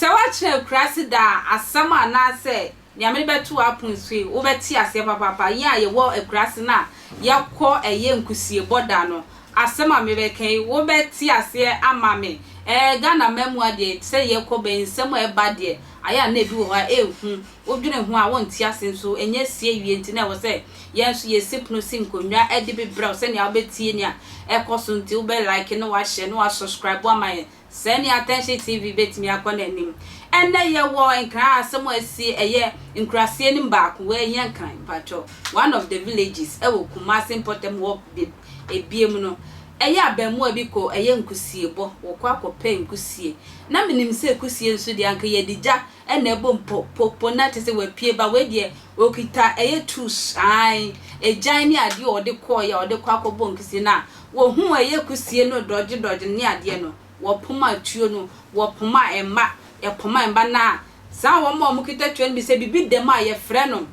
Sɛ woakyena akuraase daa a, asɛm anaasɛ nea mede bɛto w'apon so yi, wobɛte aseɛ papaapa. Yɛn a yɛwɔ akuraase no a yɛkɔ ɛyɛ nkusiebɔ da no, asɛm a mebɛka yi, wobɛte aseɛ ama me. Ɛɛ, Ghana mmaamua deɛ, te sɛ yɛkɔ bɛn, nsɛm a ɛba deɛ, Ayɛ a na ebi wɔ hɔ a enhu, wodwene ho a wonte ase nso ɛnyɛ asi awie nti na ɛwɔ sɛ yɛn nso yɛsi pono si nkonnwa de bebrɛ wo sɛnea wobɛtie nea ɛkɔ so nti wobɛ like na woahyɛ na woa subscribe ama yɛn sɛɛ ne Attention TV bɛtumi akɔ n'anim Ɛnnɛ yɛwɔ nkran a asɛm a asi ɛyɛ nkuraseɛ no mu baako wei ɛnyɛ nkran mpakyɛw one of the villages ɛwɔ Kumasi mpɔtam hɔ beb ɛbiem no Ɛyɛ abɛɛmoa bi kɔ ɛyɛ nkusiebɔ wɔ kɔ akɔ pɛ nkusie na me nim sɛ kusie nso deɛ anka yɛ de gya na ɛbɔ mu po po po na te sɛ wɔ apue ba wei deɛ ɔkita ɛyɛ tools ae agyan ne adeɛ a ɔde kɔ yɛ a ɔde kɔ akɔ bɔ nkusie na wɔ hu ɛyɛ kusie no dɔgye dɔgye ne adeɛ no wɔ poma tuo no wɔ poma mma yɛ poma mma na saa wɔn a wɔn kita tuo no bi sɛ bibi da mu a yɛ frɛ no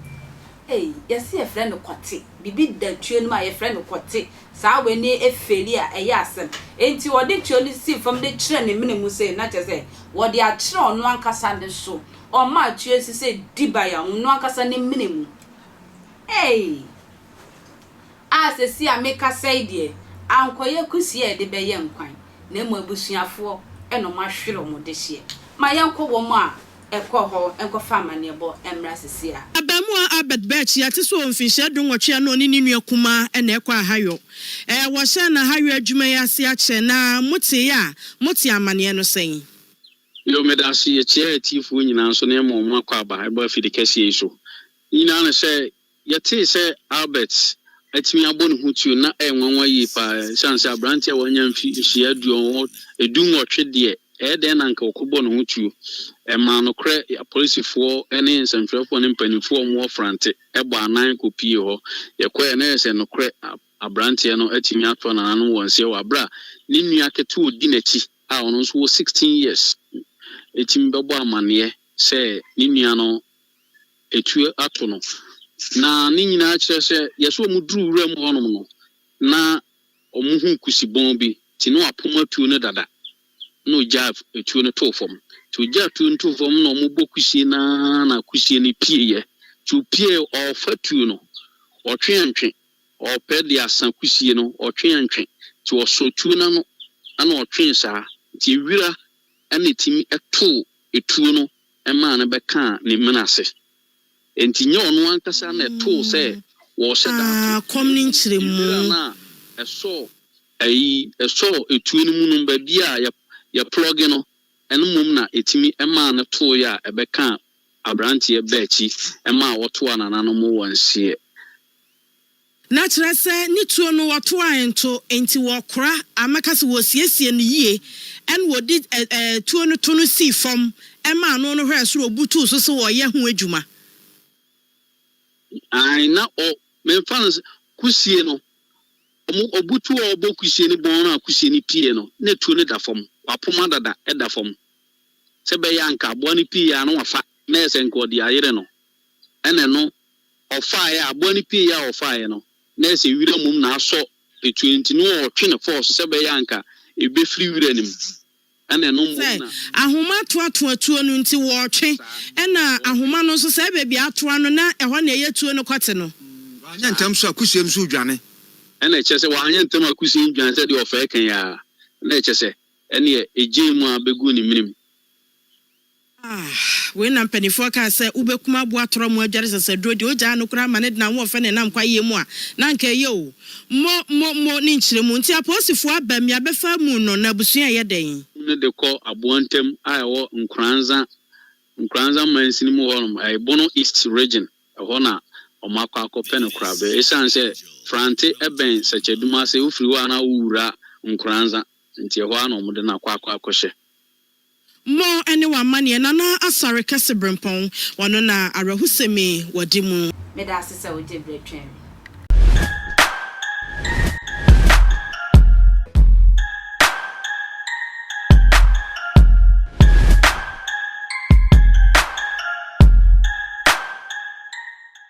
ei yɛ se yɛ frɛ no kɔte bibi da tuo no mu a yɛ frɛ no kɔte Saa wei ne afeli a ɛyɛ asɛm. Enti wɔde tuo no sii fam de kyerɛɛ ne mene mu sei, na kyerɛ sɛ, wɔde akyerɛ ɔno ankasa ne so. Ɔmaa tuo si sɛ dibea, ɔno ankasa ne mene mu. Ei! A seesei a mekasa yi deɛ, ankɔyɛ akusie a yɛde bɛyɛ nkwan, na mmom abusuafoɔ na wɔahwere wɔn dehyeɛ. Ma yɛnkɔ wɔn a kɔ hɔ nkɔfa amanneɛbɔ mmra seesei a. Abaamua Albert Birch, yɛate sɛ ɔwɔ mfinhyia dunwɔtwe a na ɔne ne nua kumaa na ɛkɔ ahayɔ. Ɛɛ, wɔhyɛɛ no ahayɔ adwuma yi ase akyɛ, na moteeɛ a, motee amanneɛ no sɛn? Yo, meda ase. Yɛkyea atiefoɔ nyinaa nso na yɛma wɔn akwaaba ba afidikɛseɛ yi so. Ne nyinaa ne sɛ, Yɛtee sɛ Albert atumi abɔ ne ho tuo no, na ɛyɛ nwanwa yie paa. Esiane sɛ aberanteɛ a wanya mfe nhyia aduɔwɔ du nwɔtwe deɛ, ɛyɛ dɛn na anka ɔkɔbɔ ne ho tuo? Ɛmaa nokorɛ apolisifoɔ ne nsɛmtwerɛfoɔ ne mpanimfoɔ a wɔwɔ Frante bɔɔ anan kɔpuee hɔ. Yɛkɔeɛ no, ɛyɛɛ sɛ nokorɛ aberanteɛ no atumi ato nananom wɔn seɛ wɔ berɛ a ne nua ketewa a ɔdi n'akyi a ɔno nso wɔ 16 years retumi bɛbɔ amanneɛ sɛ ne nua no atuo ato no. Na ne nyinaa kyerɛ sɛ yɛ sɛ wɔduru wura mu hɔnom no, na wɔhu kusibɔn bi, nti na wɔapom atuo no dada, na ɔgyaa atuo no too fam. Nti ɔgyaa atuo no too fam na wɔbɔ kusie no ara na kusie no pieeɛ. Nti ɔpieeɛ, ɔrefa tuo no, ɔtwe antwe, ɔrepɛ de asa kusie no, ɔtwe antwe. Nti ɔsɔɔ tuo no ano na ɔtwee saa, nti wira na ɛtumi too atuo no maa no bɛkaa ne mene ase. Enti nyɛ ɔno ankasa na ɛtoo sɛ wɔrehyɛ da ato nhwiren no a ɛsɔ ayi ɛsɔ etuo no mu no baabi a yɛplɔge no, ɛno mmom na ɛtumi maa no toeɛ a ɛbɛkaa aberanteɛ baakyi maa ɔtoaa nananom wɔ nseɛ. Na kyerɛ sɛ ne tuo no wɔtoae nto, enti wɔkora a mɛka sɛ wɔsiesiee no yie, ɛnna wɔde ɛ ɛ tuo no to no sii fam maa ano no hwɛɛ soro butuu so sɛ wɔreyɛ ho adwuma. Aane, na ɔ, memfa no sɛ, kusie no, wɔn, wɔbutu a wɔbɔ kusie no bɔn no a kusie no pieeɛ no, na tuo no da fam, wɔapoma dada, ɛda fam, sɛ ɛbɛyɛ a anka aboa no pieeɛ ara na wɔafa, na ɛyɛ sɛ anka wɔde ayere no. Ɛna ɛno ɔfaeɛ a aboa no pieeɛ a ɔfaeɛ no na ayɛ sɛ wira mmom na asɔ etuo nti no ɔɔtwe no fɔɔso sɛ ɛbɛyɛ a anka ɛbɛfiri wira no mu. Ɛna ɛno mmom na. Sɛ ahoma ato ato atuo no nti wɔɔtwe. Ɛna ahoma no nso sɛ ɛyɛ baabi a ato ano na ɛhɔ na ɛyɛ tuo no kɔte no. Wanyɛ ntɛm nso a kusiem nso redwane. Ɛna ɛkyerɛ sɛ wanyɛ ntɛm a kusiem dwane sɛ deɛ ɔfɛɛ kɛn ara. Na ɛkyɛ sɛ ɛneɛ ɛgyee mu ara bɛguu ne menem. Ah, wei na mpaninfoɔ kaa sɛ wobɛkum aboa torɔ mo adware sasaduro deɛ ogyaa no koraa ma ne de n'ahoɔfɛ na ɛnam kwayeɛ mu a na anka ɛyɛ o. Mo, mo, mo ne nkyerɛ mu. Nti apolisifoɔ aba mi abɛfa amu no na abusua ɛyɛ dɛn? Amu no de kɔ aboa ntam a ɛwɔ Nkoranza, Nkoranza mansini mu hɔ nom, ɛyɛ Bono East Region, ɛhɔ na wɔn akɔ akɔpɛ no korabɛ. Ɛsiane sɛ Frante ɛbɛn Sakyadum ase, wofiri hɔ a na wowura Nkoranza, nti ɛhɔ ara na wɔn de no akɔ akɔ akɔhyɛ. Mmɔ ne w'amanneɛ Nana Asare Kɛse Brempɔn, ɔno na awerɛhosɛm yi wɔde mu. Meda ase sɛ wogye bere twɛn me.